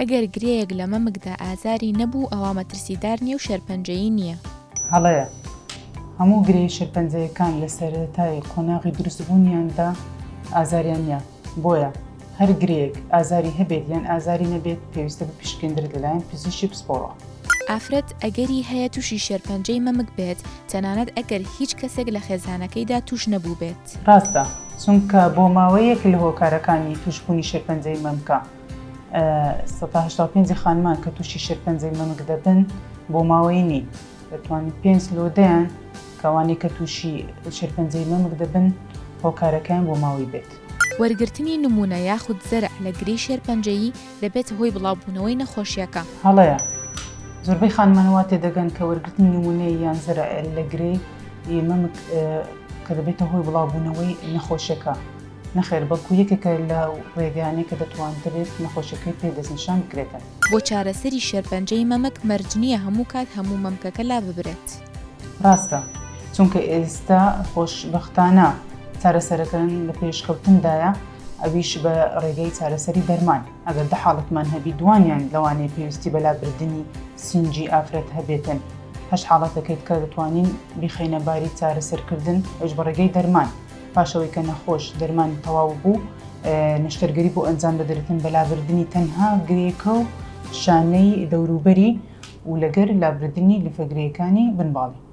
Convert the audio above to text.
ئەگەر گرێیەک لە مەمکدا ئازاری نەبوو ئەوا مەترسیدار نییە و شێرپەنجەیی نییە. هەڵەیە. هەموو گرێی شێرپەنجەیەکان لە سەرەتای قۆناغی دروستبوونیاندا ئازاریان نییە. بۆیە هەر گرێیەک ئازاری هەبێت یان ئازاری نەبێت پێویستە بپشکنرێت لەلایەن پزیشکی پسپۆڕەوە. ئافرەت ئەگەری هەیە تووشی شێرپەنجەی مەمک بێت تەنانەت ئەگەر هیچ کەسێک لە خێزانەکەیدا تووش نەبووبێت. ڕاستە، چونکە بۆ ماوەیەک لە هۆکارەکانی تووشبوونی شێرپەنجەی مەمکە. سەد تا هەشتا و پێنج خانمان کە تووشی شێرپەنجەی مەمک دەبن بۆ ماوەی نین دەتوانین پێنج لۆ دەیان کەوانەی کە تووشی شێرپەنجەی مەمک دەبن هۆکارەکەیان بۆ ماوەی بێت. وەرگرتنی نموونە یاخود زەرع لە گرێی شێرپەنجەیی دەبێتە هۆی بڵاوبوونەوەی نەخۆشییەکە. هەڵەیە، زۆربەی خانمان وا تێدەگەن کە وەرگرتنی نموونەی یان زەرع لە گرێی مەمک کە دەبێتە هۆی بڵاوبوونەوەی نەخۆشیەکە. نەخێر بەڵکو یەکێکە لە ڕێگایانەی کە دەتوانرێت نەخۆشیەکەی پێ دەستنیشان بکرێتەوە. بۆ چارەسەری شێرپەنجەی مەمک مەرج نییە هەموو کات هەموو مەمکەکە لاببرێت. ڕاستە، چونکە ئێستا خۆشبەختانە چارەسەرەکان لە پێشکەوتندایە ئەویش بە ڕێگەی چارەسەری دەرمان، ئەگەر دە حاڵەتمان هەبی دووانیان لەوانەیە پێویستی بە لابردنی سینگی ئافرەت هەبێتن هەشت حاڵەتەکەی تکە دەتوانین بیخەینە باری چارەسەرکردن ئەویش بە ڕێگەی دەرمان. پاش ئەوەی کە نەخۆش دەرمانی تەواو بوو نەشتەرگەری بۆ ئەنجام دەدرێتن بە لابردنی تەنها گرێکە و شانەی دەوروبەری و لەگەر لابردنی لفەگرێکانی بنباڵی.